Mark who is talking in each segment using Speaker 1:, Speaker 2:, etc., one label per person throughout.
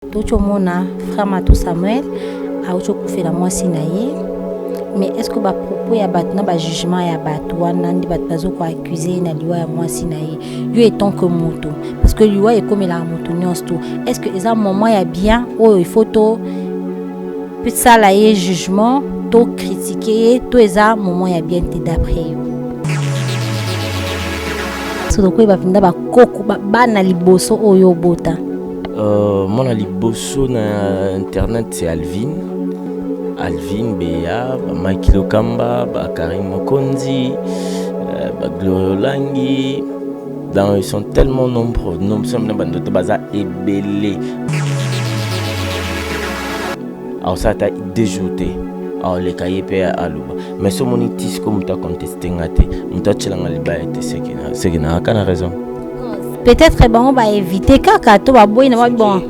Speaker 1: toki omona frère matou samuel auti okufela mwasi na ye mais est ce que bapropos ya bato na bajugement ya bato wana nde bato bazo koaccuse ye na liwa ya mwasi na ye yo etant que moto parce que liwa ekomelaka moto nyonso to est ce que eza moment ya bien oyo il faut to tosala ye jugement to kritike ye to eza moment ya bien te d'après yo soki tokoyeba mpenza bakoko bana liboso oyo obota Uh,
Speaker 2: mwana liboso na internet se alvin alvin beya bamaki lokamba bakarine mokonzi uh, bagloria olangi dans ils sont tellement nombreux nomsome na bandoto baza ebele aosala ata deux jours te aoleka ye mpe aloba mais so omoni tisiko moto akonteste nga te moto atyelanga libaya te seke na raison peut-être
Speaker 1: bango ba éviter kaka to ba boyi na ba bon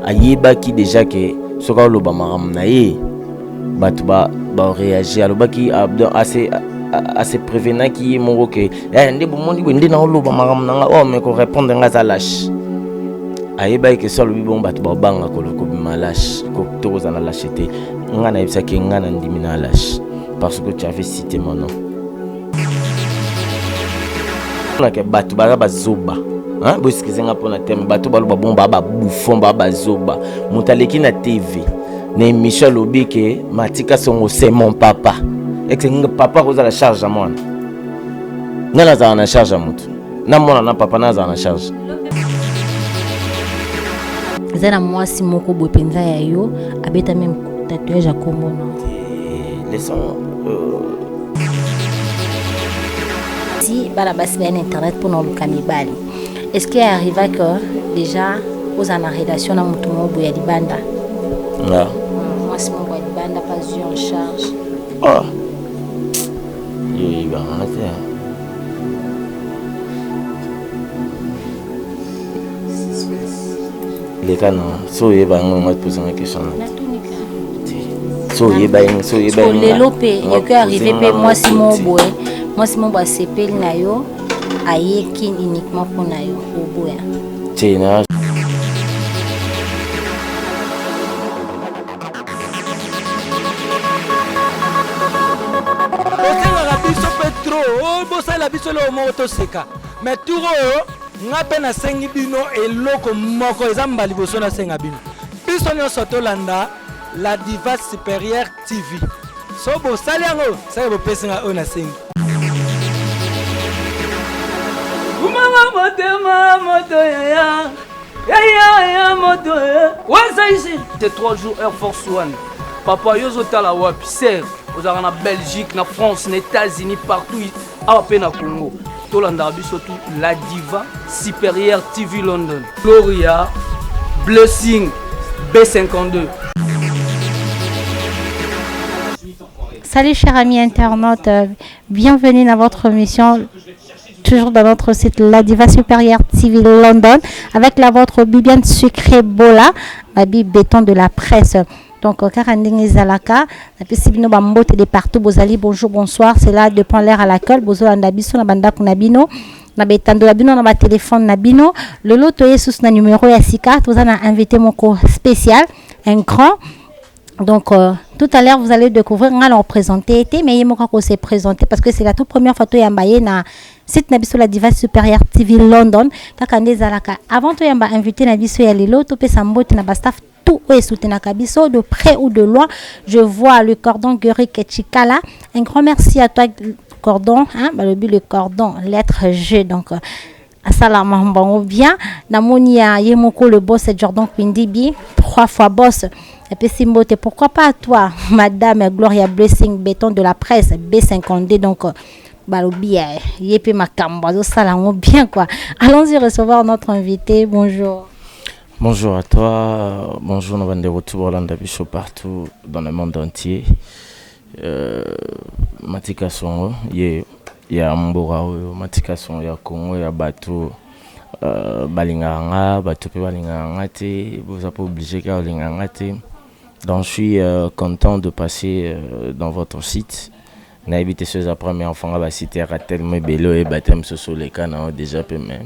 Speaker 1: ayebaki
Speaker 2: déjà que soki aloba makambo na ye bato ba bareagir alobaki ase ase prévenaki ye moko ke eh, nde bomoni boye nde naoloba makambo na nga o oh, me korépondre nga aza lashe ayebaki ke so alobi bongo bato babanga kobima lashe to kozala lashe te nga nayebisaki nga na ndimi na lashe parce que tu avais cité mon nom nake bato baza bazoba boeskize nga mpona teme bato baloba bon baa babufon baa bazoba moto aleki na tv na émission alobi ke matika songo c'est mon papa eke papa akozala charge ya mwana ngai nazala na charge ya moto na mwana na papa nazala na charge
Speaker 1: eza na mwasi moko boye mpenza ya yo abeta meme tatouage ya kombo no eh, si bana basi baye na internet mpona oluka mibali est ce que arriva que déjà ozala na relation na moto moko boye ya libanda ah.
Speaker 2: mwasi
Speaker 1: moko ya libanda pas eu en charge
Speaker 2: ah. yo oyebanga te leka na so oyeba yango yango atipozanga question na so oyeba yango so oyeba yango lelo mpe
Speaker 1: ekoki arrive mpe mwasi moko boye mwasi moko asepeli na yo aye kin uniquement mpo na yo oboya te na
Speaker 3: osengaka biso mpe tro obosala oh, biso leo moko toseka mais tour oyo oh, Nga pe nasengi bino eloko moko, eza mba liboso nasenga bino, biso nyonso tolanda la diva supérieure TV. So bosali yango, seke bopesi nga oyo nasengi. Kumama motema moto
Speaker 4: yaya yaya ya moto waza ici te 3 jours air force one papa yo ozotala wapi ser ozalaka na belgique na france na états-unis partout awa mpe na congo tolandaka biso tu la diva supérieure tv london gloria blessing b52
Speaker 1: Salut chers amis internautes, euh, bienvenue dans votre émission toujours dans notre site La Diva Supérieure TV London avec la vôtre Bibiane Sucré Bola, Babi Béton de la presse. Donc, euh, kaka ndenge zalaka, na pesi bino ba mbote de partout, bozali bonjour, bonsoir, c'est là de prendre l'air à l'accueil, bozolanda biso na bandako na bino, na betando na bino, na ba téléphone na bino. Lelo toye sous na numéro ya sika, toza na invité moko spécial, un grand. Donc, euh, tout à l'heure, vous allez découvrir, on va le représenter, été, mais il m'a qu'on s'est présenté parce que c'est la toute première photo yambaye na site na biso la diva supérieure TV London. Kaka nde zalaka. Avant tout yamba invité na biso ya lelo, to pesa mbote na ba staff tout oyo esoutenaka biso de près ou de loin je vois le cordon guerique chikala un grand merci à toi cordon hein, balobi le cordon lettre g donc euh, asala mambo yango bien namoni ya ye moko le boss jordan kwindibi trois fois boss apesi mbote pourquoi pas à toi madame gloria blessing béton de la presse b52 donc euh, balobi ya ye mpe makambo azosala yango bien quoi allons-y recevoir notre invité bonjour Bonjour à
Speaker 2: toi, bonjour na bandeko tu bolanda biso partout dans le monde entier. Euh, matika songo ye ya mboka oyo matika songo ya Congo ya bato euh, balingaka nga bato mpe balingaka nga te boza mpe oblige kaka olingaka nga te donc je suis euh, content de passer euh, dans votre site nayebi te soki eza première fois nga basite yaka tellement ebele oyeba te mosusu oleka na yo déjà mpe mais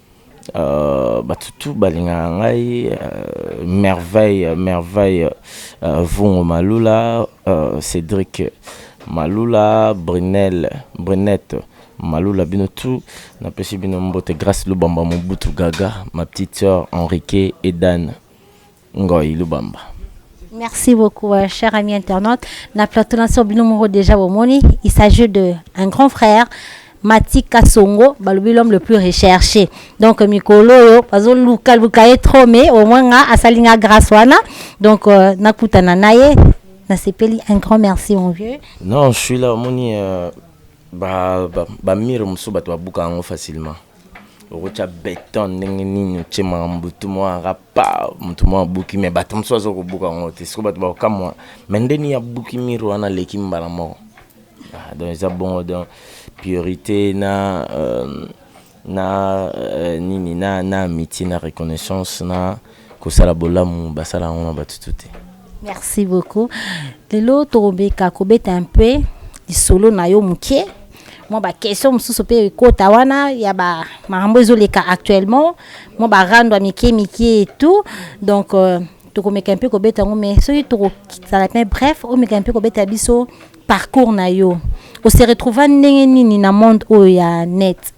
Speaker 2: Euh, bato tu balingaka ngai euh, merveille euh, merveille euh, vungo malula euh, cédric malula brunel brunette malula bino tu napesi bino mbote grace lubamba mobutu gaga ma petite sœur henrique edane Ngoy Lubamba. Merci
Speaker 1: beaucoup, euh, cher ami internaute. Na plateau na so bino moko déjà bomoni, il s'agit de un grand frère Mati Kasongo, balobi l'homme le plus recherché. Donc mikolo yo bazo luka luka ye trop mais au moins nga asali nga grâce wana. Donc euh, nakutana na ye nasepeli un grand merci mon vieux. Non, je suis là
Speaker 2: omoni euh, ba ba, ba mire mosusu bato babuka yango facilement. Okotya beton ndenge nini otye makambo butu mwa rap pa motu moko abuki me bato mosusu aza kobuka yango te sikoyo bato bakokamwa me nde nini abuki mire wana aleki mbala moko ah, donc eza bongo donc priorité na euh, na euh, nini na na amitié na reconnaissance na kosala bolamu basala yango na bato to te Merci
Speaker 1: beaucoup. Lelo tokobeka kobeta un peu lisolo na yo moke mwa baquestion mosusu mpe ekota wana ya ba makambo ezoleka actuellement mwa barando ya mike mike etout donc euh, tokomeka mpe kobeta yango mais soki tokosala mpe bref omeka mpe kobeta biso parcours na yo ose retrouva ndenge nini na monde oyo ya net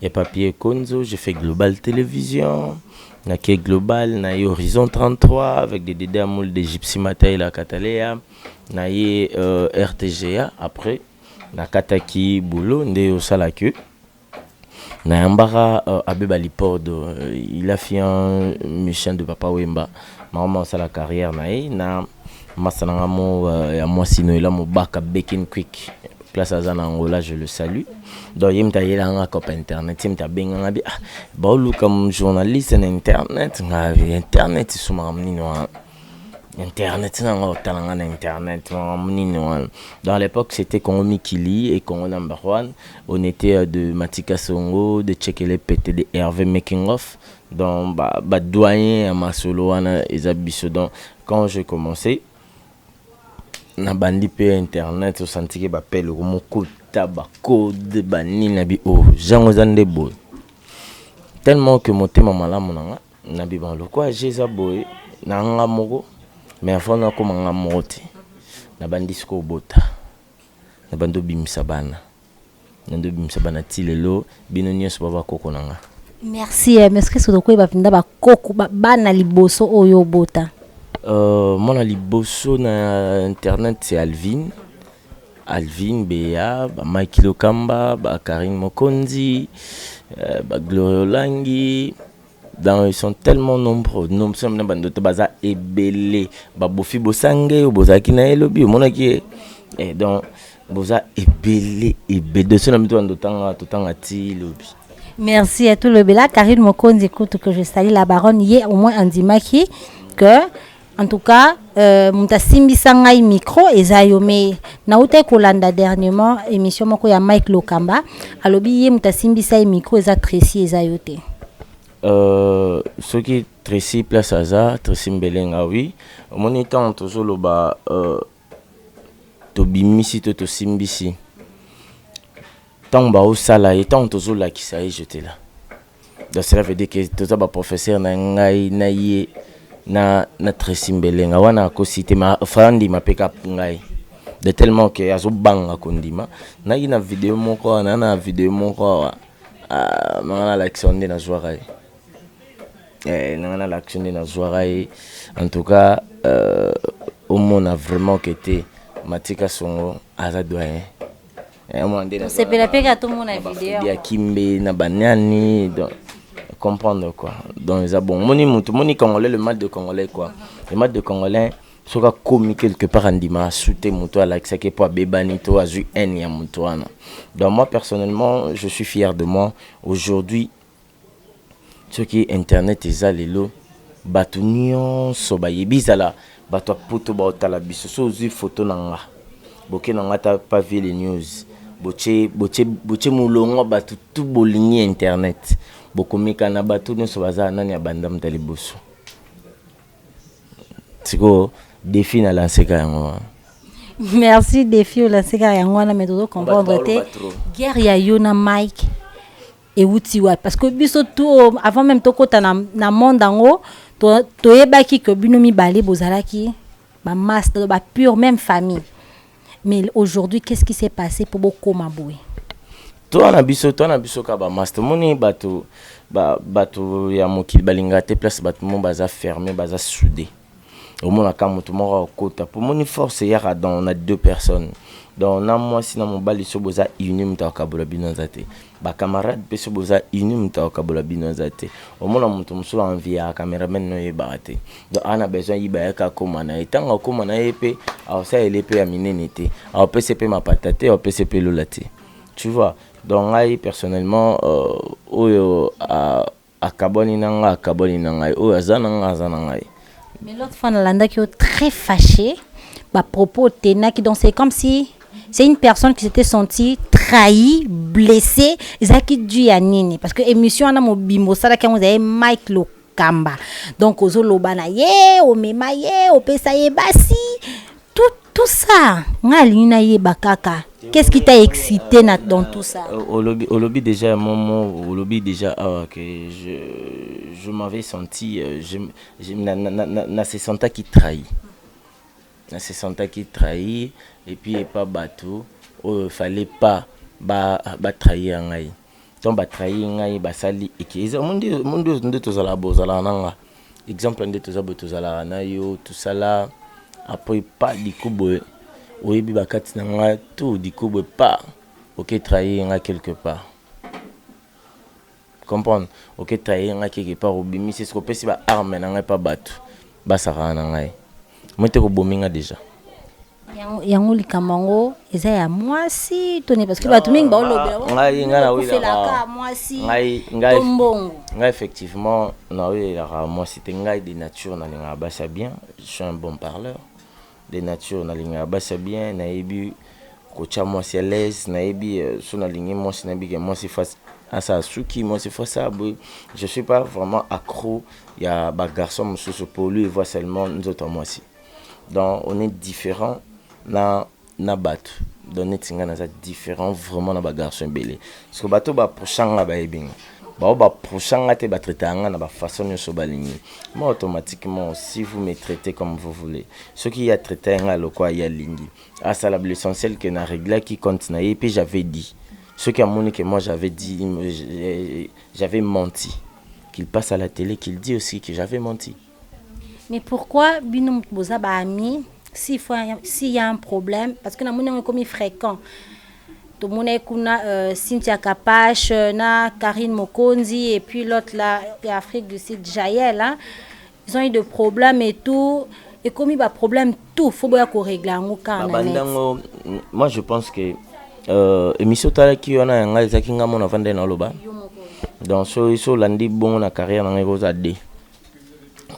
Speaker 2: Ya papier konzo je fais global television na ke global na ye horizon 33 avec de dede ya mul de gypsy matayi la cataleya na ye rtga après na kataki boulot nde yo osala que na yambaka abbe balipordo il a fui un musicien de papa wemba maman osala carrière na ye na Masta na nga mo euh, ya mwasi Noela Mobaka Bekin Quick place aza na Angola je le salue donc ye mutu ayelaka nga cope internet ye mutu abenga nga bi ah baoluka journaliste na internet nga internet so makambo nini wana internet na nga otala nga na internet makambo nini wana donc à l'époque c'était Congo Mikili et Congo number one on était euh, de Matika Songo de Chekele Pete de Hervé Making Off donc ba, ba doyen ya masolo wana eza biso donc Quand j'ai commence na bandi pe internet osantike ba pele ko mokuta ba code ba nini na bi o jango eza nde boye tellement que motema malamu na nga na bibana lokola je eza boye na nga moko mais avant na koma nga moko te na bandi siko obota na bandi obimisa bana Nande obimisa bana ti lelo bino nyonso ba bakoko na nga. Merci eh, mais
Speaker 1: soki soki tokoyeba mpenza bakoko ba- bana liboso oyo obota Euh, mwana
Speaker 2: liboso na internet c'est Alvin. Alvin Bea, ba Mike Lokamba, ba Karine Mokonzi, euh, ba Gloria Olangi, dans ils sont tellement nombreux nom sema na bandoto baza ebele babofi bosange oyo bozalaki na ye lobi omonaki ye eh, donc boza ebele ebele doso na mito bandotanga totanga ti lobi merci à tout
Speaker 1: le bela karine mokonzi kutu que je sali la baronne ye au moins andimaki que En tout cas, euh, mutu asimbisa ngai micro eza yo mais nawutaki kolanda dernièrement émission moko ya Mike Lokamba alobi ye mutu asimbisa ye micro eza Tracy eza yo te. Euh,
Speaker 2: soki Tracy place aza Tracy Mbelenga oui omoni ntango tozoloba euh, tobimisi to tosimbisi ntango baosala ye ntango tozolakisa ye jetela donc cela veut dire que toza ba professeur na ngai na ye na na Tracy Mbelenga wana akosi te ma frandi mapeka ngai de tellement que azobanga kondima naki na video moko wana na video moko awa ah, manga nalakisa nde nazwaka ye eh, nanga na lakisi nde nazwaka ye en tout cas euh, omona vraiment ke te matika songo aza doyen eh,
Speaker 1: omona nde
Speaker 2: tosepela
Speaker 1: mpe ka tomona video ya
Speaker 2: kimbe
Speaker 1: na
Speaker 2: baniani donc
Speaker 1: comprendre
Speaker 2: quoi donc eza bon moni motu moni congolais le mal de congolais quoi le mal de congolais soki akomi quelque part andima asu te moto alakisaki mpo abebani to azwi haine ya moto wana donc moi personnellement je suis fier de moi aujourd'hui Soki internet eza lelo batu nionso bayebi ezala batu ya poto baotala biso so ozui foto na nga boke na nga ta pa vile news botie botie botie molongo batu tu bolingi internet bokomeka na batu nionso baza nani abanda muta liboso sikoyo defi na lanseka yango wana merci
Speaker 1: defi olanseka yango wana me tozo comprendre te guerre ya yo na mike ewuti wapi parce que biso tout avant même tokota na, na monde yango toyebaki to que bino mibale bozalaki ba masse ba pure même famille mais aujourd'hui qu'est-ce qui s'est passé pour bokoma boye toi na
Speaker 2: biso toi na biso ka ba masse tomoni bato ba, bato ya mokili balingaka te place bato mo baza ferme baza soudé omonaka mutu moko akokota po omoni force eyaka dans na deux personnes donc na mwasi na mobali so boza uni mutu akokabola bino aza te ba camarade pe so boza uni mutu akokabola bino aza te omona mutu mosusu envie ya cameraman no oyebaka te donc ana besoin yiba yaka akoma na ye ntango akoma na ye pe aosala ele pe ya minene te aopese pe mapata te aopese pe lola te tu vois donc ngai personnellement euh, oyo euh, Akabwani na nga akabwani na ngai oyo aza na nga aza na ngai. Mais l'autre
Speaker 1: fois na landaki yo très faché ba propos otenaki donc c'est comme si c'est une personne qui s'était sentie trahie, blessée ezalaki dû ya nini parce que émission wana mobimba osalaki yango ezali Mike Lokamba donc ozoloba na ye omema ye opesa ye basi tout, tout ça nga alingi nayeba kaka qu'est-ce qui t'a excité na, dans tout ça euh, olobi, olobi
Speaker 2: déjà ya momo olobi déjà awa ah, que je, je m'avais senti euh, je, je, na, na, na, na, na se sentaki trahi na se sentaki trahi et puis epa bato oyo fallait pas ba, ba trahir ngai donc ba trahir ngai basali eke eza mundi mundi nde tozala bozala nanga exemple nde toza boye tozalaka na yo tosala apres pa dikubwe oyebi bakati na nga tu dikubwe pa oke trahir nga quelque part comprendre oke trahir nga quelque part obimisi eske opesi ba arme na ngai pa bato basakana na ngai mote kobomi nga deja
Speaker 1: yango likambo yango eza ya mwasi to nini parceke bato mingi baolobelaofelaka
Speaker 2: mwasi
Speaker 1: to mbongo
Speaker 2: ngai effectivement naoyelaka mwasi te ngai de nature nalingaka basi ya bien je suis un bon parleur de nature nalingaka basi ya bien nayebi kotya mwasi alaise nayebi euh, so nalingi mwasi nayebi ke mwasi face asala suki mwasi face a boye je suis pas vraiment accro ya bagarçon mosusu pour lui voit seulement nzoto ya mwasi donc on est différent na na bato donc neti ngai naza différent vraiment na bagarçon ebele parceke bato baprocha nga bayebi nga bao baprocha nga te batraitaka nga na bafaçon nyonso balingi ma automatiquement si vous me traitez comme vous voulez soki ye atraita nga lokwa ye alingi asala l'essentiel que na réglaki compte na ye mpe j'avais dit soki amoni que moi j'avais dit j'avais menti qu'il passe à la télé qu'il dit aussi que j'avais menti Mais
Speaker 1: pourquoi bino mutu boza ba amis si fois si y a un problème parce que na moni yango ekomi fréquent tomonaki kuna euh, Cynthia Kapash euh, na Karine Mokonzi et puis l'autre là ya Afrique du Sud Jael hein? ils ont eu de problèmes et tout ekomi ba problème tout faut boya ko régler yango kaka na net babandango
Speaker 2: moi je pense que euh, émission otalaki wana ya ngai ezalaki ngai mona avandai na oloba Yo moko. donc so so olandi bongo na carrière na ngai ekozala de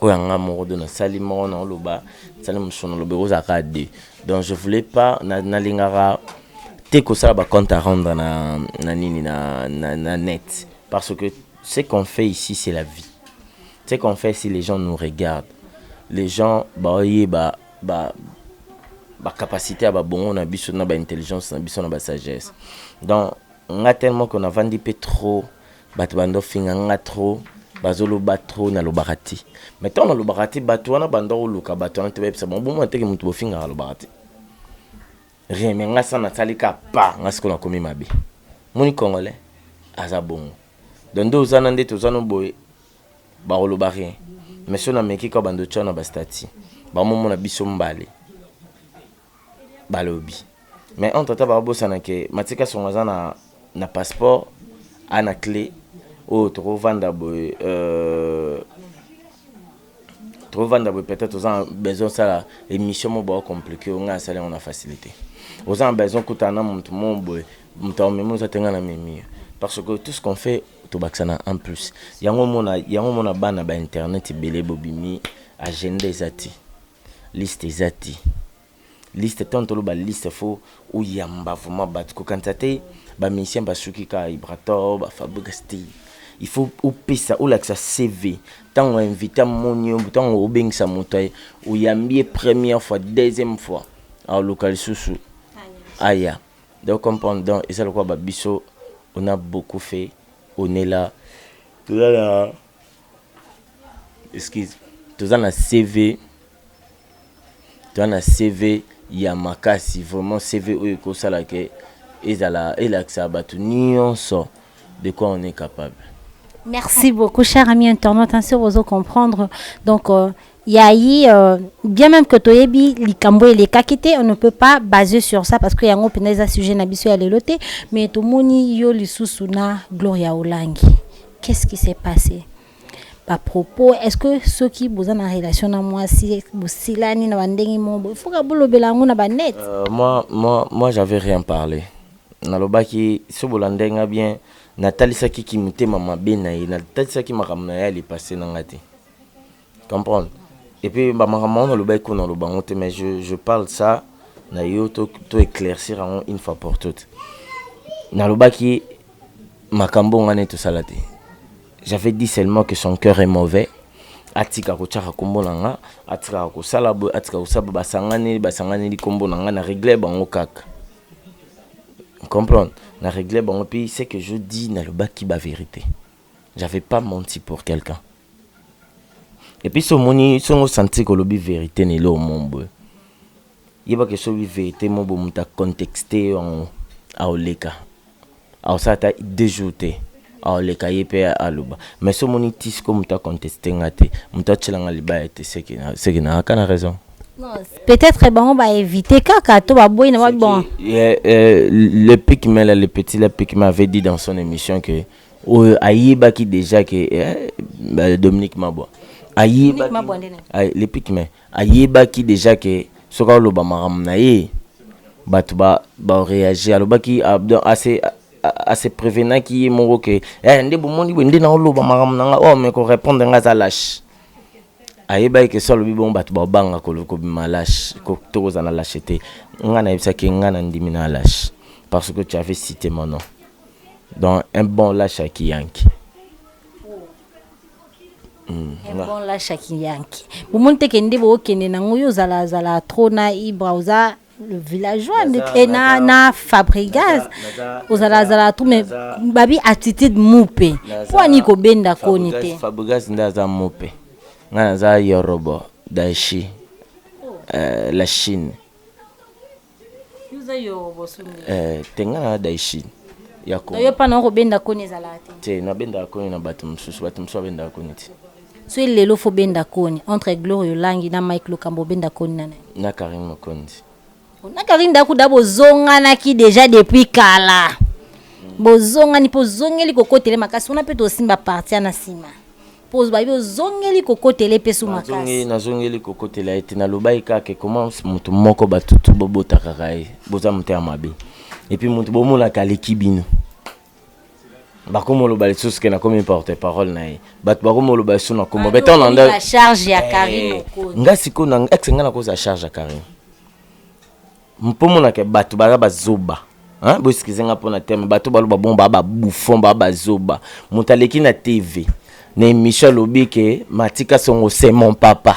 Speaker 2: oyo ya nga moko do nasali moko na oloba sali mosusu naloba ekozala kaka de donc je voulais pas nalingaka te kosala ba compte à rendre na, na nini na, na, na net parce que ce qu'on fait ici c'est la vie ce qu'on fait si les gens nous regardent les gens baoyeba ba, ba bacapacité ya babongo na biso na baintelligence na biso na basagesse donc nga tellement que navandi mpe trop Bato banda ofinga nga trop bazo loba trop na lobaka te mais tant na lobaka te bato wana banda oluka bato wana te bayebisa bango bomona teke moto bofingaka lobaka te rien mais nga sa nasali ka pa nga sikoyo nakomi mabe moni congolais aza bongo donc nde oza na nde toza no boye bakoloba rien mais so nameki kaka bando tya na bastati bamomona biso mbale balobi mais entre temps babosana ke Mathieu Kasongo aza na na passeport a na cle oyo toko vanda boye euh, toko vanda boye peut-être oza besoin sala emission mo bao complique yo ngai asali yango na facilité oza na besoin kuta na mutu mo boye mutu amemi oza tenga na memi parce que tout ce qu'on fait tobakisa na en plus yango mona yango mona bana ba internet ebele bobimi agenda eza te Liste eza te liste tango toloba liste fo oyamba vraiment batu kokanisa te ba musiciens basuki kaka ibrator ba fabrigas te il faut opesa olakisa cv tango invité amoni yo tango obengisa moto aye oyambi ye première fois deuxième fois aoluka lisusu aya donc comprendre donc eza lokola ba biso on a beaucoup fait on est là toza na Excuse. Toza na CV, toza na CV ya makasi vraiment CV oyo ekosala ke ezala elakisa bato nyonso de quoi on est capable. Merci
Speaker 1: beaucoup, cher ami internaute. Ainsi, vous comprendre. Donc, euh, Ya yy bien meme que toyebi likambo elekaki te on ne peut pas base sur ça parce que yango pena eza sujet na biso ya lelo te mais tomoni yo lisusu na Gloria Olangi qu'est ce qui s'est passe ba propos est ce que soki boza na relation na mwasi bosilani na ba ndenge moko boye faut ka bolobela yango na ba net Euh, moi, moi, moi
Speaker 2: j'avais rien parlé nalobaki so bolandaki nga bien natalisaki kimotema mabe na ye natalisaki makambo na ye ya lipase na nga te comprendre et puis ba makambo yango nalobaki ko naloba yango te mais je, je parle ça na yo to, to éclaircir yango une fois pour toute nalobaki makambo ngai nde tosala te j'avais dit seulement que son cœur est mauvais atika kotyaka nkombo na nga atikaka kosala boye atika kosala basangani basanganeli nkombo na nga na regle bango kaka comprendre na regle bango mpe ce que je dis nalobaki bavérité j'avais pas menti pour quelqu'un Et puis so moni so ngo sentir ko lobi verite ne lo mombo. Yeba ke so lobi verite mombo muta contexte yango aoleka. Aosala ta deux jours te. Aoleka ye pe aloba. Mais so moni tisi ko muta contexte nga te. Muta tshela nga libaya te seke na seke na aka na raison. Peut-être
Speaker 1: bango ba éviter kaka to ba boyi na ba bon.
Speaker 2: Le pic mais là le petit la pic m'avait dit dans son émission que oyo ayebaki dejà ke eh, Dominique Mabwa ayebaki le pic mais ayebaki dejà ke soki aloba makambo na ye bato ba bareagir alobaki ah, ase ase prevenaki ye moko ke eh, nde bomoni boye nde naoloba makambo na nga oyo oh, me korepondre nga aza lashe ayebaki ke so alobi bongo bato babanga kobima lashe tokozala na lashe te nga nayebisaki nga nandimi na lashe parce que tu avais cité mon nom Donc un bon lâche à Kiyanki. Mm,
Speaker 1: un bon lâche à Kiyanki. Vous montez que ndebo okende na ngoyo zala zala trop na ibra oza le villageois et na na Fabregas ozala zala trop mais babi attitude mupe. Pour ani ko benda koni te. Fabregas ndaza
Speaker 2: mupe. Ngana za yorobo daishi. Oh. Euh, la Chine. Eh, tengala daishi yako yo pana okobenda
Speaker 1: koni ezalaka te te nabendaka koni
Speaker 2: na bato mosusu bato mosusu babendaka koni te soki lelo fo
Speaker 1: benda koni entre gloria olangi na mike lokambo obenda koni na nani na karine mokonzi
Speaker 2: na karine
Speaker 1: dakuda bozonganaki deja depuis kala bozongani mpo ozongeli kokotele makasi wana mpe tosimba parti ya na nsima po bayebi ozongeli kokotela ye pe su makasi. Nazongi ye, nazongeli kokotela
Speaker 2: ye te. Nalobaki kaka ke comment mutu moko batu tout bobotakaka ye, boza motema mabe. Et puis mutu bomonaka aleki bino, bakomoloba lisusu ke nakomi porte parole na ye, batu bakomoloba lisusu na kombo Batu okomi ba charge ya Carine
Speaker 1: Mokonzi. Nga sikoyo na ex nga
Speaker 2: nakozala charge ya Carine? Mpo mona ke bato baza bazoba. Hein, bo excusez nga mpo na terme, bato baloba bongo ba ba bouffon, ba ba zoba. Moto aleki na TV, na emission alobi ke Matika Songo c'est mon papa.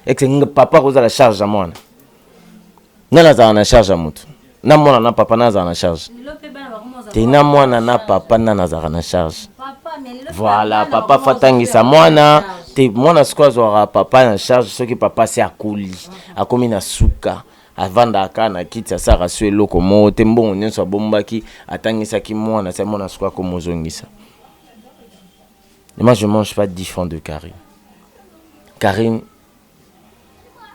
Speaker 2: Est ce que papa akozala charge ya mwana? Nani azala na charge ya moto? Na mwana na papa nani azala na charge? Te na mwana na papa nani azalaka na charge? Voilà, papa fa tangisa mwana te mwana sikoyo azwaka papa na charge soki papa se akoli akomi na suka avandaka kaka na kiti asalaka so eloko moko te mbongo nyonso abombaki atangisaki mwana sia mwana suka komozongisa moi je mange pas 10 francs de carine carine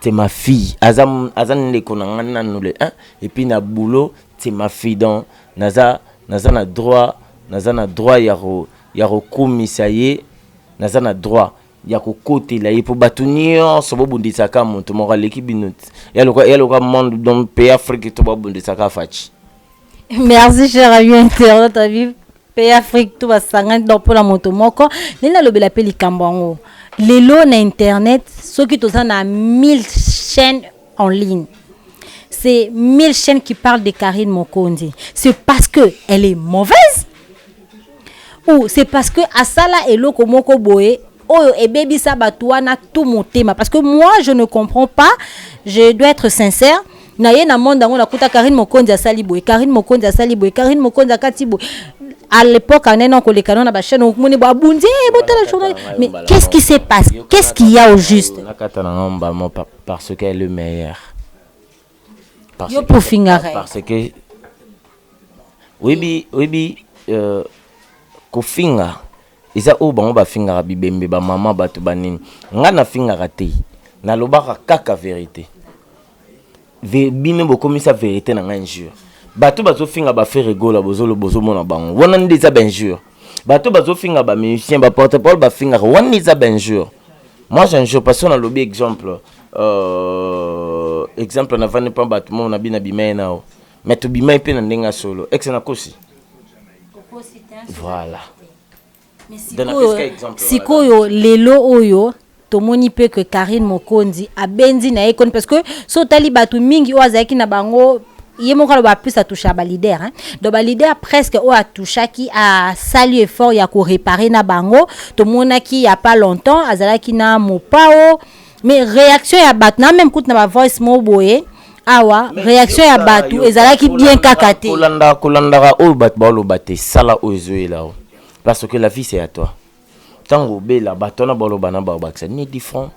Speaker 2: c'est ma fille aza aza ndeko na ngai nanu le 1 et puis na boulot c'est ma fille donc naza naza na droit naza na droit ya ko ya kokumisa ye naza na droit ya kokotela ye mpo bato nyonso bobundisaka moto moko aleki bino ya loka monde donc pays afrique to babundisaka faci merci
Speaker 1: cher ami internet abi pays afrique to basangani donc mpo na moto moko nde nalobela mpe likambo yango lelo na internet soki toza na 1000 chaîne en ligne c'est mille chaînes qui parlent de Karine Mokonzi c'est parce que elle est mauvaise ou c'est parce que asala eloko moko boye oyo ebebisa bato wana tout motema parce que moi je ne comprends pas je dois être sincère na ye na monde yango nakuta karine mokonzi asali boye karine mokonzi asali boye karine mokonzi akati boye à l'époque anene akoleka no na bachaine okomoni bo abundi "Eh, botala journal mais qu'est-ce qui se passe qu'est-ce qu'il y a au juste nakata na ngai mbala moko
Speaker 2: papa Par ce qu'elle est meilleur. Par Yo pour fingare. Par ce que oyebi oyebi euh, kofinga eza oyo bango bafingaka bibembe bamama bato banini ngai nafingaka te nalobaka kaka verité Ve, bino bokomisa verité na ngai injure bato bazofinga bafere gola bozomona bango wana nde eza bainjure bato bazofinga ba musicien ba porte parole bafingaka wana eza bainjure moi j'injure parce que nalobi exemple euh, exemple navandi mpa bato moko nabi na bimai nao mais tobimai mpe na ndenge ya solo ex nakosi voilà
Speaker 1: sikoyo lelo oyo tomoni pe que Carine Mokonzi abenzi na ye koni parce que so tali batu mingi oyo azalaki na bango ye moko aloba plus atouchaka ba leader hein? donc ba leader presque oyo atouchaki asali effort ya koreparer na bango tomonaki ya pas longtemps azalaki na mopao mais réaction ya bato na meme kutu na ba voice mo boye awa réaction ya bato ezalaki bien kaka te kolandaka
Speaker 2: oyo bato baoloba te sala oyo ezoyela yo parce que la vie c'est à toi tango obela bato wana baloba na ba bakisa ni different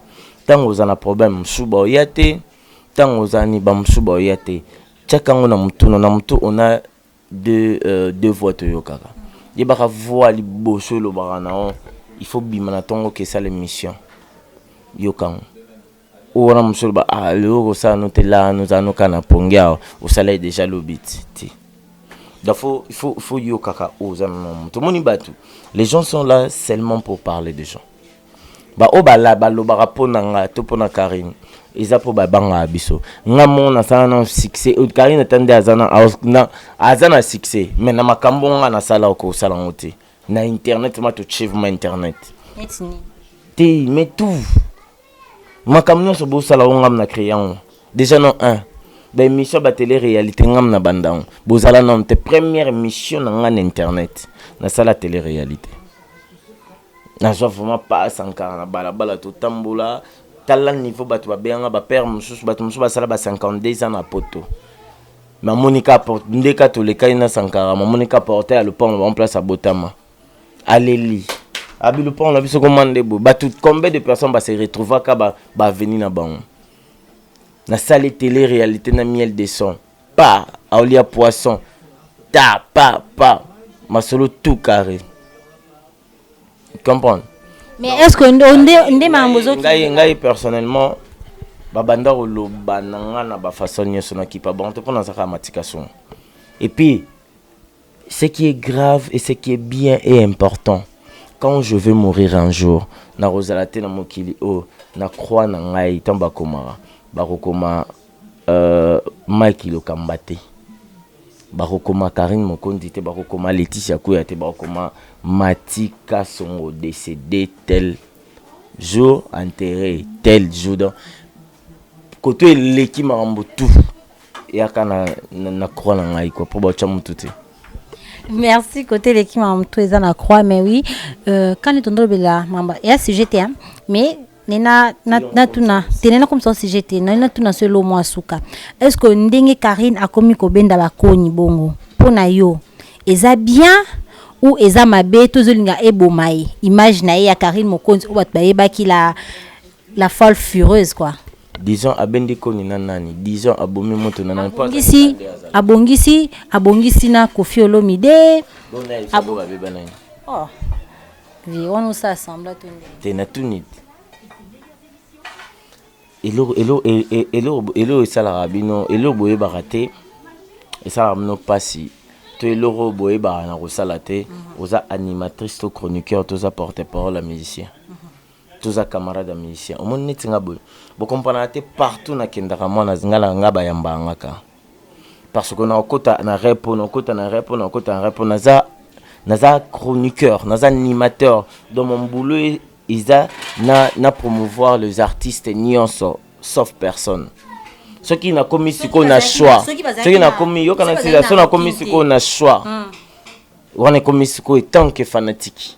Speaker 2: tango oza na problème mosusu baoya te tango oza ni bamosusu baoya te tiaka yango na motuna na motu ona deux, euh, deux voix toyokaka yebaka voix liboso elobaka na yo il faut bima na ntongo kesa l'émission yoka yango Oyo wana mosusu oloba ah lelo okosala no te la no za no ka na pongi awa osala ye deja lobi ti ti donc faut il faut il faut yo kaka oza na na moto moni batu les gens sont là seulement pour parler des gens ba oyo bala balobaka mpo na nga to mpo na Karine eza mpo babangaka biso nga moko nasala na succès euh, Karine ata nde aza na aza na succès mais na makambo nga nasala okosala yango te na internet ma totie ma internet te mais tout makambo nyonso bosala o ngam na créa yango déjà non un baémission ya batele réalité ngam na banda yango bozala nano te première émission na ngai na internet nasala tele réalité nazwa vraiment pa sankara na balabala totambola tala niveau bato babenganga bapere mosusu bato mosusu basala ba 52 ans na poto mamoni ka porte ndeka tolekani na sankara mamoni ka porte ya lopango bango place abotama aleli abi lopango na biso koma nde boye bato combien de personnes base retrouvaka baveni ba na bango nasali tele réalité na miel de son pa aolia poisson ta pa pa masolo tout carré comprendre mais est ce
Speaker 1: que nde makambo ozongai ngai personnellement
Speaker 2: babanda koloba na ngai na bafaçon nyonso nakipa bango te mpo nazalaka matika songo epuis ce qui est grave et ce qui est bien et important quand je vais mourir un jour nakozala te na mokili oyo na croix na ngai ntango bakomaka bakokoma euh, mike lokamba te bakokoma karine mokonzi te bakokoma leticia kuya te bakokoma mati kasongo décédé tel jour enterré tel jour donc koto eleki makambo tout eyaka na, na, na croix na ngai kua mpo batya motu te merci
Speaker 1: kote eleki makambo tout eza na croix mais oui euh, kani tondolobela makambo ya sujet te mais nena natuna te nena komisa sujet te nani natuna so elo mwa suka est ce que ndenge karine akomi kobenda bakoni bongo mpo na yo eza bien ou eza mabe tozolinga eboma ye image na ye ya karine mokonzi oyo bato bayebaki la La folle fureuse quoi. Disons abendi
Speaker 2: koni na nani? Disons abomi moto na nani? Abongisi,
Speaker 1: abongisi, abongisi na Koffi Olomide. Bon na yebisa boka beba na ye. Oh. Vie wana osa assembla to nini? Te na tuni.
Speaker 2: Eloko eloko e- e- eloko eloko esalaka bino eloko boyebaka te esalaka bino mpasi to eloko oyo boyebaka na kosala te oza animatrice to chroniqueur to oza porte parole ya musicien Toza camarade ya musicien omoni neti nga boye bo comprenaka te partout na kendaka mwana nga na nga bayambaka nga ka parceque nako kota na repo nako kota na repo nako kota na repo naza naza chroniqueur naza animateur donc mon boulot est eza na, na promouvoir les artistes nionso sauf personne soki nakomi sikoyo na choix soki nakomi yokana sila soki nakomi sikoyo na choix wana ekomi sikoyo etant que fanatique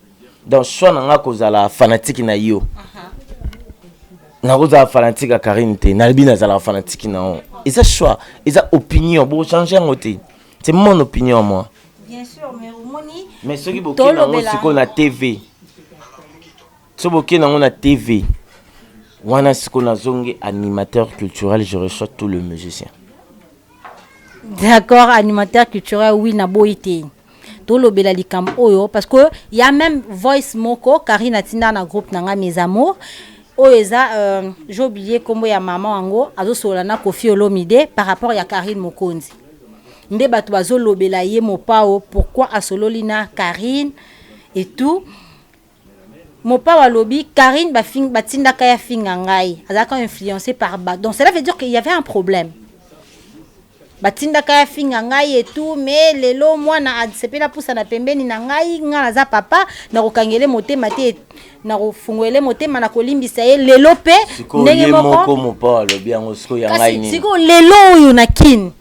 Speaker 2: donc choix na nga kozala fanatiki na yo nakozala fanatiki ya karine te nalobi nazalaka fanatiki na yo eza choix eza opinion bochange yango te c'est mon opinion moi
Speaker 1: mais soki bokei
Speaker 2: nango sikoyo na tv soki bokei nango na tv wana sikoyo nazongi animateur culturel je reçois tout le musicien d'accord
Speaker 1: animateur culturel oui naboyi te tolobela likambo oyo parce que y a même voice moko Karine atinda na groupe na ngai mes amours oyo eza euh, j'ai oublié kombo ya maman yango azosolola na Koffi Olomide par rapport ya Karine Mokonzi nde bato bazolobela ye mopao pourquoi asololi na Karine et tout Mopao alobi Carine ba fing ba tindaka ye afinga ngai azalaka influence par ba donc cela veut dire que il y avait un problème ba tindaka ye afinga ngai et tout mais lelo mwana asepela pusana pembeni na ngai ngai naza papa nakokangele motema te nakofunguele motema nakolimbisa ye lelo pe sikoyo ndenge ye moko moko
Speaker 2: mopao alobi yango sikoyo ya ngai kasi nini sikoyo lelo oyo na
Speaker 1: kin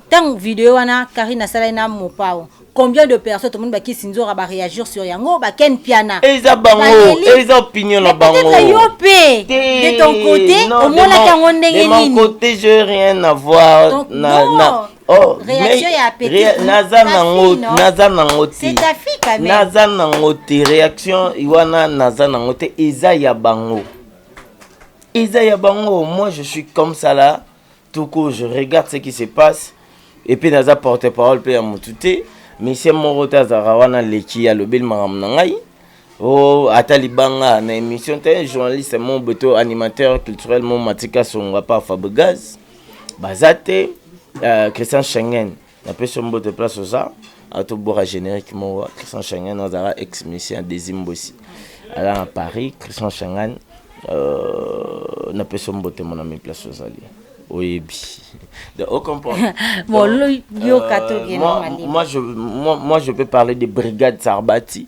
Speaker 1: ntango video wana karine asalaki na mopao combien de personnes tomoni bakisi nzora ba réagir sur yango ba ken piana eza bango
Speaker 2: eza opinion na bango peut-être yo pe
Speaker 1: de ton côté omonaki yango ndenge nini de mon côté je rien
Speaker 2: à voir Donc, na, non.
Speaker 1: na Oh,
Speaker 2: réaction ya petite
Speaker 1: naza nango
Speaker 2: naza nango te
Speaker 1: naza nango te
Speaker 2: réaction wana naza nango te eza ya bango eza ya bango moi je suis comme ça là tout court je regarde ce qui se passe et puis naza porte parole pe ya mutu te misie moko te azalaka wana leki alobeli makambo na ngai o oh, ata libanga na émission te journaliste mo beto animateur culturel mo matika songa pa fabrigaz baza te uh, christian schengen Na pesi yo mbote place oza. Awa to bora generique moko Christian Shangan azala ex musicien Desi Mbosi. Ala na Paris Christian Shangan euh, na pesi yo mbote mon ami place ozali. Oyebi. Donc, au comprend. bon, euh,
Speaker 1: yo, euh, moi, moi,
Speaker 2: je, moi, moi, je peux parler des brigades Sarbati.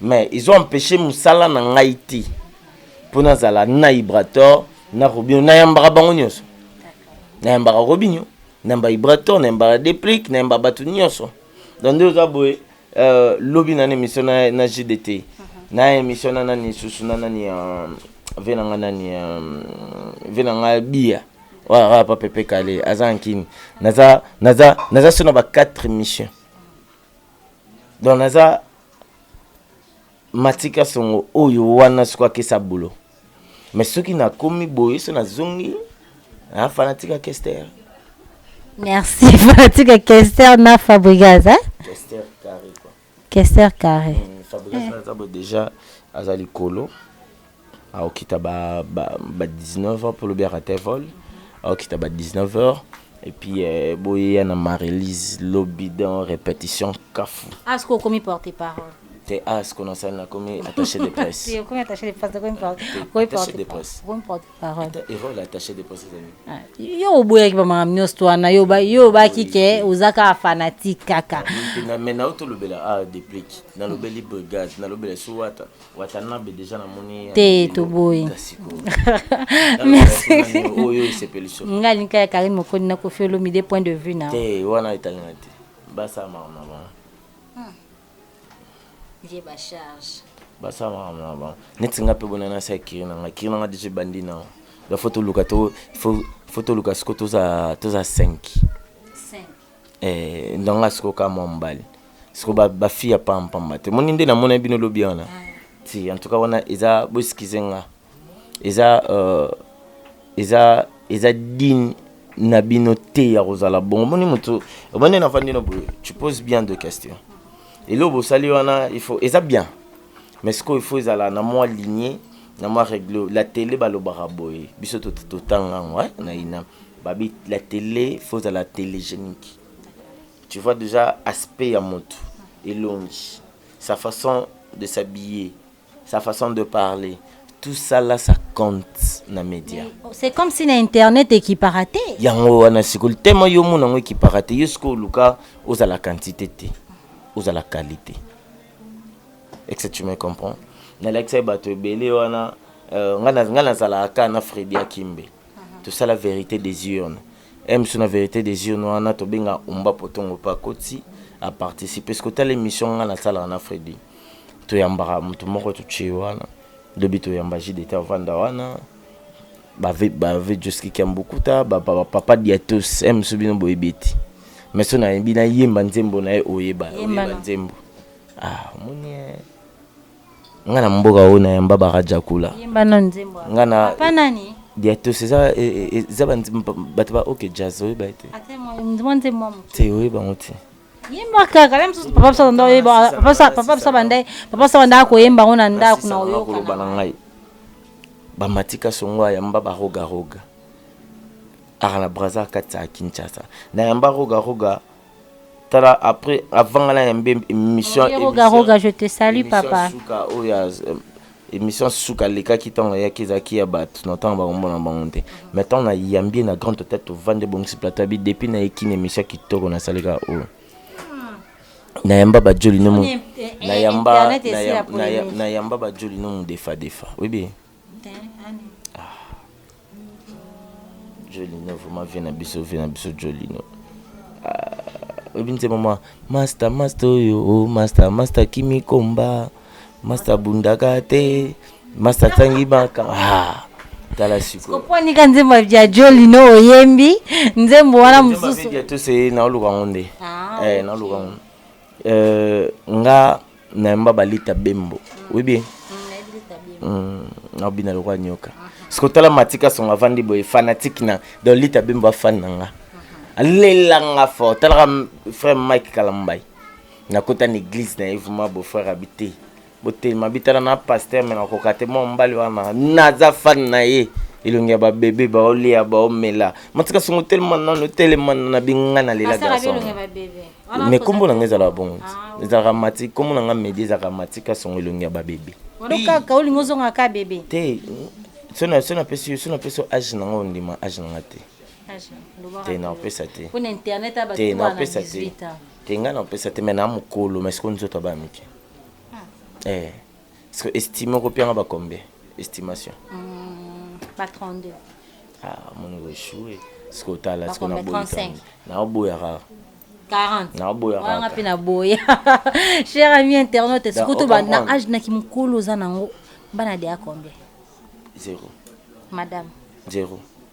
Speaker 2: Mais ils ont empeche musala na ngai te mpo nazala na ibrator na robino nayambaka bango nyonso nayambaka robinio nayamba ibrator nayambaka deplic nayamba bato nyonso donc nde oza boye euh, lobi na na émission na, na gdt mhm. na émission na nani susu na nani euh, ve na nga nani euh, ve na nga bia waya papepe kale aza nkini naza naza naza so na ba 4 émission donc naza matika songo oyo wana soki akesa bulo me soki nakomi boye so nazongi na fanatika kester
Speaker 1: merci fanatika kester na fabrigas eh? kester carré
Speaker 2: quoi kester carré
Speaker 1: mm, fabrigas mm. naza boye
Speaker 2: déjà aza likolo Aokita ba ba ba 19 heures po lobi a rate vol. Aokita ba 19 heures et puis euh, boyeya na Marie-Lise lobi dans repetition kafu. As ko komi porte
Speaker 1: parole. Te as ko
Speaker 2: nasali na komi attaché de presse. Te komi attaché de presse
Speaker 1: komi porte. Komi porte de
Speaker 2: presse. Komi porte parole.
Speaker 1: Et rôle attaché de
Speaker 2: presse ezali. Yo oboyaki ba makambo
Speaker 1: nyonso to wana yo ba yo obaki ke ozaka fanatique kaka. Mais na yo
Speaker 2: tolobela a deplique. Nalobeli brigade, nalobela suwata. watanabe deja namoni te toboyi oyo esepeliso nga linka ya karine mokoni
Speaker 1: na kofi olomide point de vue na te wana etali na
Speaker 2: te basala makambo na
Speaker 1: bango hmm. ye bacharge
Speaker 2: basala makambo na bango neti nga mpe bona nasi ya kiri na nga kiri na nga deja ebandi na ba fo toluka to fo toluka siko toza toza 5 5 Eh, na nga siko ka mwa mobali siko ba, ba fille ya pamba pamba te moni nde namona bino lobi wana ti en tout cas wana eza bo excuse nga eza euh, eza eza digne na bino te ya kozala bongo moni moto omoni nafandi no boye tu pose bien de question eloo bosali wana il faut eza bien mais sikoyo il faut ezala na mwa ligne na mwa regle la tele balobaka boye biso totanga yango eh, na ina Babi la tele faut ozala telegenique tu vois dejà aspect ya mutu elongi sa façon de s'habiller sa façon de parler tout ça là ça compte na media c'est comme si na
Speaker 1: internet ekipaka te yango wana sikoli
Speaker 2: tellement yo omona yango ekipaka te yo sikoyo oluka ozala quantité te ozala qualité est ce que tu me comprends nalakisa ye bato ebele wana euh, ngai nazalaka kaka na fredi akimbe tosala verite des urnes ems na verite des urnes wana tobenga umba potongo mpe akoti aparticipe soki otala émission ngai nasalaka na fredi toyambaka moto moko totie wana lobi toyamba jideta avanda wana bave bave joski kiambukuta bapapa diatos ems bino boyebi ete mais so nayebi nayemba nzembo na ye oyeba oyeba nzembo ah omoni eh. Nga na mboka oyo na yamba ba Radjakula. Yemba nanu nzembo wana. Nga
Speaker 1: na Papa nani? Diatos eza
Speaker 2: eza ba bato ba OK Jazz oyo ba te. Ate mwa mwa nzembo
Speaker 1: mwa moke. Te oyo bango te.
Speaker 2: Yemba kaka
Speaker 1: la misusu papa biso ndo yemba papa sa papa biso banda papa sa banda ko yemba ngona ndako na oyo. Ko loba na ngai.
Speaker 2: Ba matika songo ya mba ba roga roga. Ara na Brazza katsa Kinshasa. Na yamba roga roga tala après avant nga na yembe émission roga roga je te
Speaker 1: salue papa suka oyo
Speaker 2: oh, émission suka alekaki ntango ayaki ezalaki ya bato na ntango bakomona bango te mais ntango nayambi ye na grande hôtel tovandi ebongisi plateau abi depuis nayeki na émission kitoko nasaleka oyo nayamba bajoli no nayamba bajoli no modefadefa oyebi Jolino vraiment vie na biso vie na biso Jolino ah, oyebi nzembo mwa masta masta oyo oh, masta masta kimikomba masta bundaka te masta tangi baka ah, tala sikoponika nzembo ya
Speaker 1: Jolino oyembi nzembo wana mosusu tose naoluka
Speaker 2: yango nde ah, eh, naoluka yango eh, nga nayamba balita bembo oui bien mm, naobina lokola nyoka siko tala matika songo avandi boye fanatike na donc lita bembo afani na nga alelanga fort talaka frère mike kalambai nakota na église na ye vraimen bofrère abi te botelema bitala na paster me nakoka te mwa mobali wana naza fani na ye elongi ya babebe baolia baomela matika songo telema nano telema na binga na lela garçon mais kombo na nga ezalaka bongo ah, ezalaka mati kombo na nga medi ezalaka matika songo elongi ya babebe kaka olingi
Speaker 1: ozonga ka bebe
Speaker 2: te so napesi yo age na nga ondima age na nga te te napesa te te
Speaker 1: napesa te
Speaker 2: te ngai napesa te mai na mokolo mai sikoyo nzoto abaya mike ah. eh. Estime ko pianga ba combien estimation mm,
Speaker 1: ba 32 ah mon
Speaker 2: ko échouer ce que tala ce que na boyi na oboya rare 40 na oboya rare nga pe na boya
Speaker 1: cher ami internaute ce que to ba na âge na kimukolo za nango bana de a combien zéro
Speaker 2: madame
Speaker 1: zéro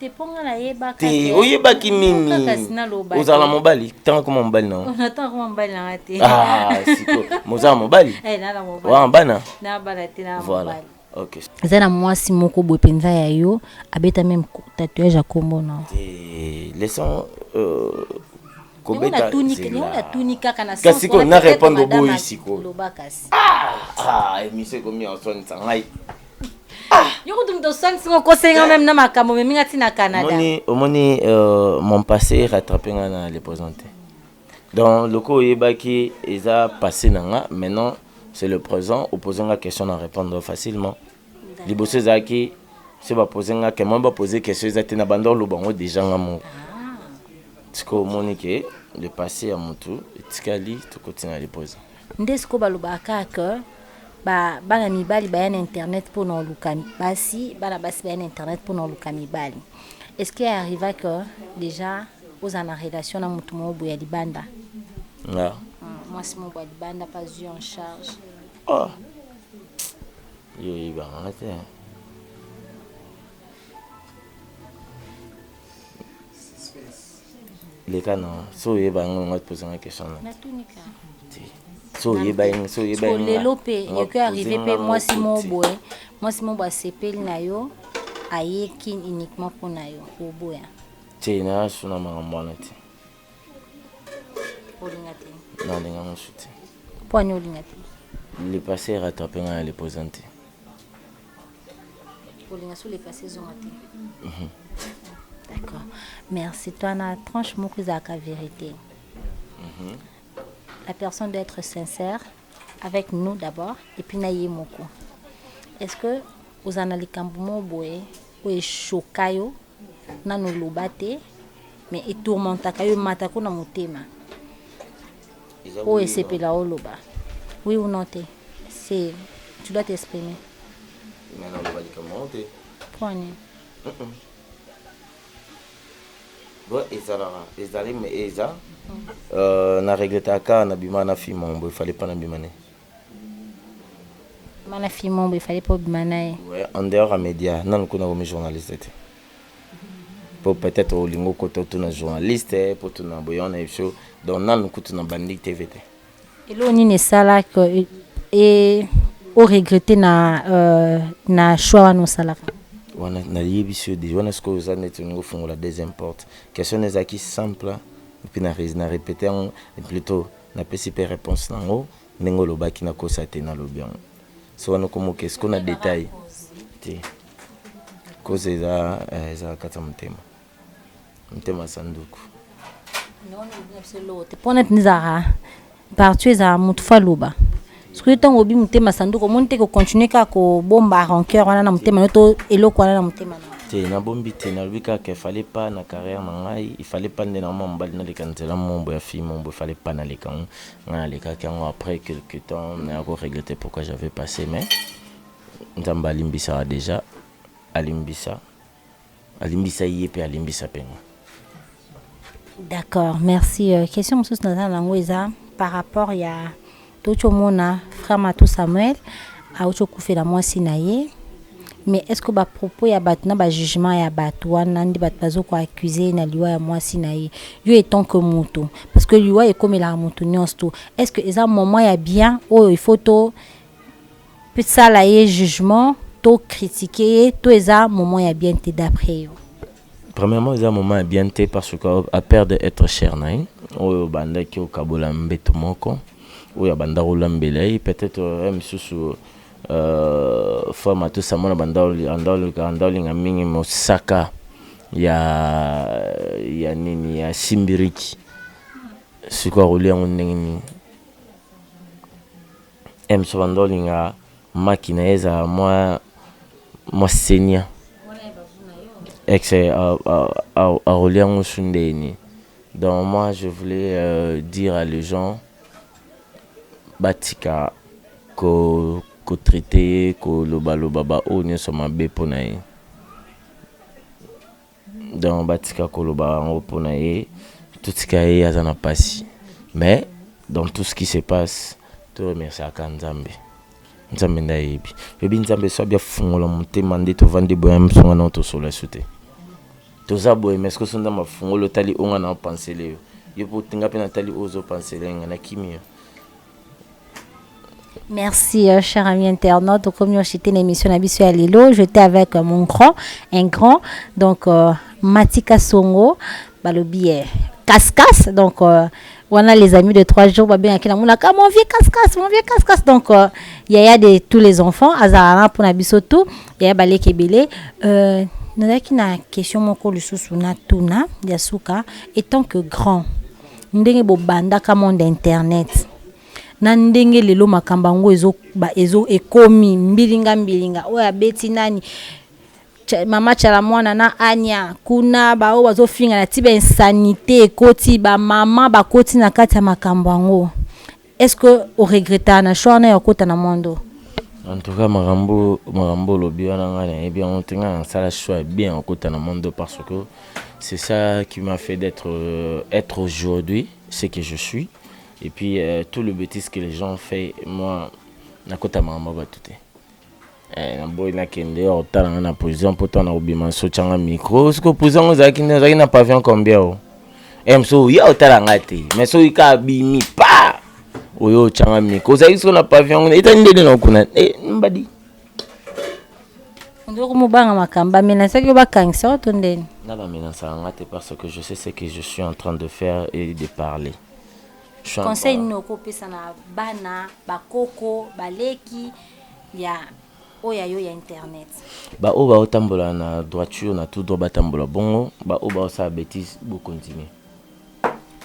Speaker 2: te mpo nga
Speaker 1: nayebaka te oyebaki nini
Speaker 2: ozala mobali ntango akoma mobali na ntango akoma mobali nanga
Speaker 1: te ah, siko
Speaker 2: mozala mobali eh, wana
Speaker 1: bana voilà ok
Speaker 2: eza na mwasi
Speaker 1: moko boye mpenza ya yo abeta meme tatouage ya kombo na leson
Speaker 2: euh,
Speaker 1: kobeta kasi ko na répondre
Speaker 2: boyi sikoyo ah, ah, emission ekomi ya oswanisa ngai
Speaker 1: yo kutu moto osangisi ngo kosenga meme na makambo omemi nga ti na canada omoni omoni
Speaker 2: euh, mon passé rattrape nga na le présent te donc loko oyebaki eza passé na nga maintenant c'est le présent opose nga question na répondre facilement liboso ezalaki so bapose nga ke moi bapose question eza te na banda oloba yango deja nga moko sikoyo omoni ke le passé ya motu etikali tokoti na le présent Nde sikoyo balobaka
Speaker 1: kaka que ba bana mibali baya na internet mpo na oluka basi, bana basi baya na internet mpo na oluka mibali. Est-ce que arriva que deja ozala na relation na moto moko boye ya libanda? Nga?
Speaker 2: Mwasi moko
Speaker 1: boye ya libanda mpe azwi yo en charge?
Speaker 2: Oh. Yo oyebaka nga te. leka na so oyeba yango yango atposa nga question na so oyeba yango so oyeba yango lelo mpe
Speaker 1: ekoki arrive mpe mwasi moko boye mwasi moko asepeli na yo aye kin uniquement mpo na yo oboya te na
Speaker 2: suna makambo wana te
Speaker 1: olinga te nalinga mosu
Speaker 2: te mpo ani olinga
Speaker 1: te le passé
Speaker 2: rattrape ngai na le présente
Speaker 1: kolinga sur le passé ezonga te mhm. d'accord merci toi na tranche moko ezalaka vérité mhm. la personne doit être sincère avec nous d'abord et puis na ye moko est ce que ozala na likambo moko boye oyo eshoka yo nanu loba te mais e tourmentaka yo emata ko na motema oyo oh, esepela oloba oui ou non te c'est tu dois t'exprimer mais
Speaker 2: naloba likambo yango te mpo
Speaker 1: nini
Speaker 2: doit ezalaka ezali mais eza euh, na regretaka na bima na fima ombo efale mpa na bima ne
Speaker 1: Mana fille mombo il fallait pas obima naye. Ouais, en dehors ya
Speaker 2: media nanu kuna okomi journaliste te po peut-être olingi okota otuna journaliste po tuna boye wana ebiso donc nanu kutu na bandi tv te Eloko nini
Speaker 1: esalaka e, e o regretter na euh, na choix wana osalaka? wana
Speaker 2: nayebisi yo deja wana sikoyo oza neti olingi ofungola deuxième porte question na ezalaki simple epuis na res- na repete yango plutôt Napesi pe reponse nango ndenge olobaki nakosa te nalobi yango se wana okomoka esiko na detail te koza eza eh, eza kati ya motema motema sanduku
Speaker 1: mpona tnizaka partout ezala motu fo aloba soki ntango obi motema sanduku omoni te kocontinue kaka kobomba rancœur wana na motema no to eloko wana na motema na te nabombi te
Speaker 2: nalobi kaka efale pa na carrière na ngai ifale pa nde na mwa mobali naleka nzela mombo ya fille mombo efale pa naleka yango ngai nalekaki yango après quelque temps naya koregrete pourquoi j'avais passé mais nzambe alimbisaka déjà alimbisa Alimbisa ye pe alimbisa pe nga. D'accord,
Speaker 1: merci. Euh, question mosusu naza nango eza par rapport ya touti omona frère Matou Samuel auti okufela mwasi na ye mais est ce que bapropos ya bato na bajugement ya bato wana nde bato bazo koaccuse na liwa ya mwasi na ye yo etant que moto parce que liwa ekomelaka moto nyonso to est ce que eza moment ya bien oyo il faut to Pe sala ye jugement to critique ye to eza moment ya bien te d'après yo? Premièrement eza
Speaker 2: moment ya bien te parce que a perdre etre cher na ye oyo obandaki okabola mbetu moko oyo abandaki olambela ye peut etre heure misusu euh, femme atosi amona bandaolinga mingi mosaka ya ya nini ya simbiriki sikoyo akolia yango ndenge nini Ems obanda olinga maki naye ezala mwa mwa senior ex akolia ngusu ndenge nini donc moi je voulais dire à les gens batika ko ko traite ye koloba loba ba oyo nionso mabe pona ye. donc batika koloba yango pona ye totika ye aza na pasi mais dans tout ce qui se passe to remerciaka nzambe nzambe nde ayebi oyebi nzambe so abi afungola motema nde tovandi boya msonga nao tosola esu te toza boye mais soki so nzambe afungoli otali onga nao pansele yo yo mpo nga mpe natali oyo ozopansele nga na kimi yo
Speaker 1: Merci, euh, cher ami internaute. Donc, comme j'étais une émission à Bissou Alilo, j'étais avec euh, mon grand, un grand, donc euh, Matika Songo, Balobi, euh, Cascas. Donc, euh, voilà les amis de trois jours, Babé Akina Moulaka, mon vieux Cascas, mon vieux Cascas. Donc, euh, Yaya de tous les enfants, Azarana pour Nabiso tout, Yaya Balé Kebele. Euh, nazalaki na question moko lisusu natuna ya suka etant que grand ndenge bobandaka monde internet na ndenge lelo makambo yango ezo, ba, ezo ekomi mbilinga mbilinga oyo abeti nani mama chala mwana na anya kuna baoyo bazofinga na ti ba insanité ekoti bamama bakoti na kati ya makambo yango Est-ce que o regretta na choix wana ya kota na monde oyo? En tout cas
Speaker 2: makambo makambo olobi wana ngai nayebi yango te ngai nasala choix bien ya kota na monde parce que c'est ça qui m'a fait d'être euh, être aujourd'hui ce que je suis et puis euh, tout le bêtise que les gens ont fait moi nakota makambo ya bato te Eh, na boyi na kende ya kotala nga na prison mpo tana kobima nso tyanga micro siko prison yango ozalaki nde ozalaki na pavion combien o eh, mso oya otala nga te mais soki ka abimi pa oyo otyanga micro ozalaki siko na pavion yango etani ndende na okuna eh, mbadi
Speaker 1: ndoko mobanga makambo bamenasaki yo bakangisa yo to ndeni na bamenasaka nga
Speaker 2: te parce que je sais ce que je suis en train de faire et de parler conseil
Speaker 1: nini okopesa na bana bakoko baleki ya oyo ayo ya internet baoyo baotambola
Speaker 2: na droiture na tout droit batambola bongo baoyo baosala betise bokontinue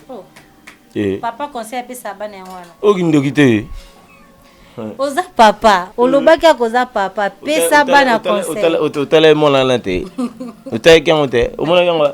Speaker 2: oh. eh. papa conseil apesa
Speaker 1: bana yango wana okindoki te oza papa olobaki yako oza papa pesa bana conseil otala ye mwana wana
Speaker 2: te otalaki yango te omonaki yango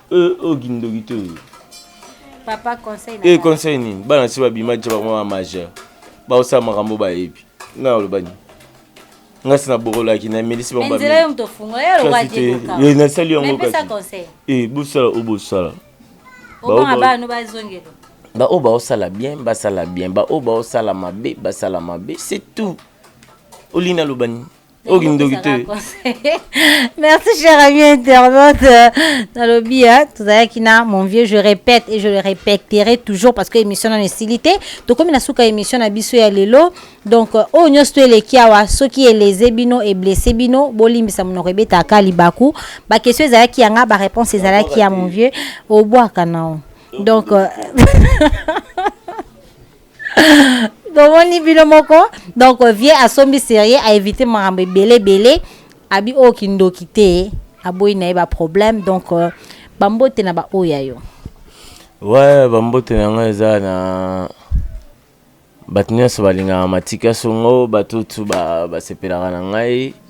Speaker 1: Euh, oyo kindoki
Speaker 2: to oyo.
Speaker 1: Papa conseil na. Eh conseil nini? Bana si
Speaker 2: babima je bango ba majeur. Baosala makambo bayebi. Nga oloba nini? Nga si nabokolaki na emelisi bango babimi. Nzela yo moto ofungola yo oloba
Speaker 1: je koka. Eh nasali yango kasi.
Speaker 2: Pesa conseil.
Speaker 1: Eh bosala oyo bosala.
Speaker 2: Obanga
Speaker 1: bana bazongela. Baoyo baosala
Speaker 2: bien basala bien, baoyo baosala mabe basala mabe, c'est tout. Olingi naloba nini? oyo kindoki te
Speaker 1: merci cher ami internaute nalobi tozalaki na mon vieux je répète et je le répéterai toujours parce que émission nano esili te tokomi na suka émission na biso ya lelo donc euh, oyo nyonso to eleki awa soki eleze bino eblesse bino bolimbisa monoko ebetaka libaku baquestion ezalaki yanga baréponse ezalaki ya mon vieux obwaka nao donc euh, bomoni bino moko donc vie asombi serie aevite makambo ebele ebele abi oyo kindoki te aboyi na ye baproblème donc euh, bambote na baoyo ya yo ouais
Speaker 2: bambote na yango eza na bato nyonso balingaka matika songo bato tu basepelaka na ngai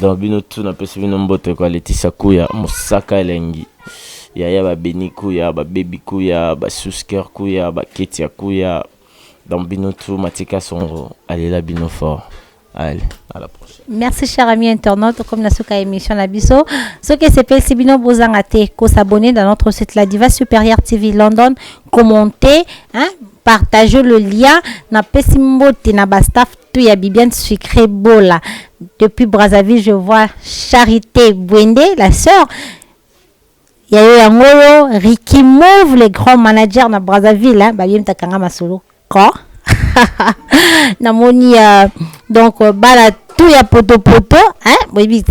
Speaker 2: Donc bino tout napesi bino mbote kwa Leticia Kuya, Mosaka elengi, yaya ba Beni Kuya, ba Baby Kuya, ba Susker Kuya, ba Ketia Kuya. Donc bino tout Matika Songo, alela bino fort. Allez, à la prochaine. merci cher ami
Speaker 1: internaute comme na suka ya émission na biso soki esepelisi bino bozanga te kosabonne dans notre site la diva supérieure tv london commente hein, partage le lien napesi mbote na bastaff tout ya Bibiane Sucré Bola. Depuis Brazzaville, je vois Charité Bwende, la sœur. Il y a eu Angolo, Ricky Move, le grand manager na Brazzaville. Hein. Bah, yem takanga masolo. Quoi? Namoni, euh, donc, euh, bala tout ya poto poto. Hein? Boy,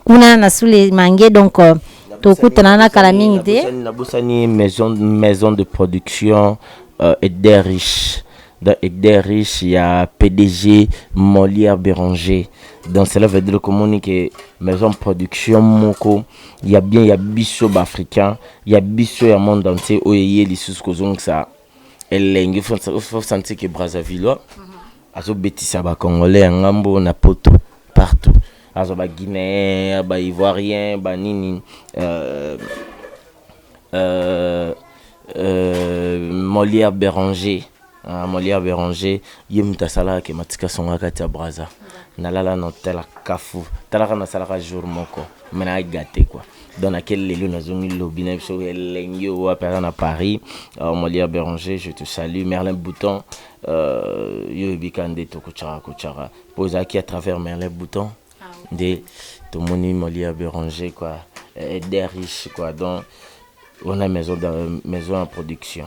Speaker 1: kuna na sule mange donc euh, tokutana na kala mingi te nabosani maison,
Speaker 2: maison de production euh, eder riche dans eder riche ya pdg molière béranger donc cela veut dire komoni ke maison production moko ya bien ya biso baafricain ya biso ya monde entier oyo eye lisusu kozongisa elengi faut sentir que Brazzavillois azobetisa ba congolais ya ngambo na poto partout azo ba guinéen ba ivoirien ba nini euh, euh, euh, molière béranger uh, molière béranger ye moto asalaka ke matika songa kati ya braza nalala na hotel kafu talaka nasalaka jour moko me naagate kua dans laquelle Lelo Nazongi Lobby na biso elengi oyo wapi aza na Paris euh, Molia Béranger je te salue Merlin Bouton euh, yo ebika nde tokotyaka kotyaka mpo ezalaki à travers Merlin Bouton ah nde tomoni Molia Béranger quoi euh, des riches quoi donc on a maison, maison en production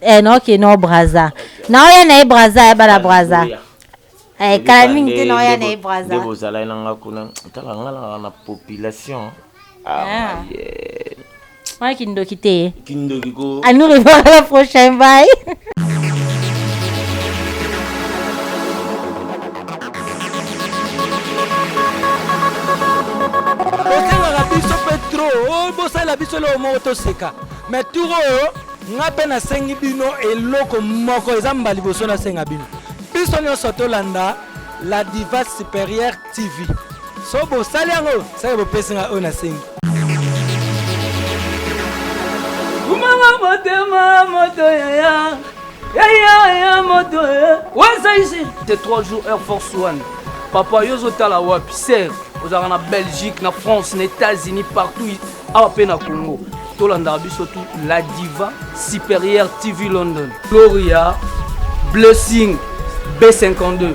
Speaker 1: Eh na oke no braza. Na oya na ye braza ya bala braza. Eh kala mingi te na oya na ye braza. Ndebo zala na nga
Speaker 2: kuna. Tala nga na na population. Ah, ah. yeah.
Speaker 1: Wana kindoki te. Kindoki ko. Anu
Speaker 2: revoir la
Speaker 1: prochaine bye.
Speaker 3: bosengaka biso mpe tro oh, bosalela biso eloko moko toseka mais turo oyo Nga pe nasengi bino eloko moko, eza mba liboso nasenga bino. Biso nyonso tolanda La Diva Supérieure TV. So bosali yango, seke bopesi nga oyo nasengi.
Speaker 4: Kumama motema moto yaya yaya ya moto waza ici de 3 jours air force one papa yo ozotala wapi ser ozalaka na belgique na france na états-unis partout awa pe na congo tolandaka biso tu la diva supérieure tv london gloria blessing b52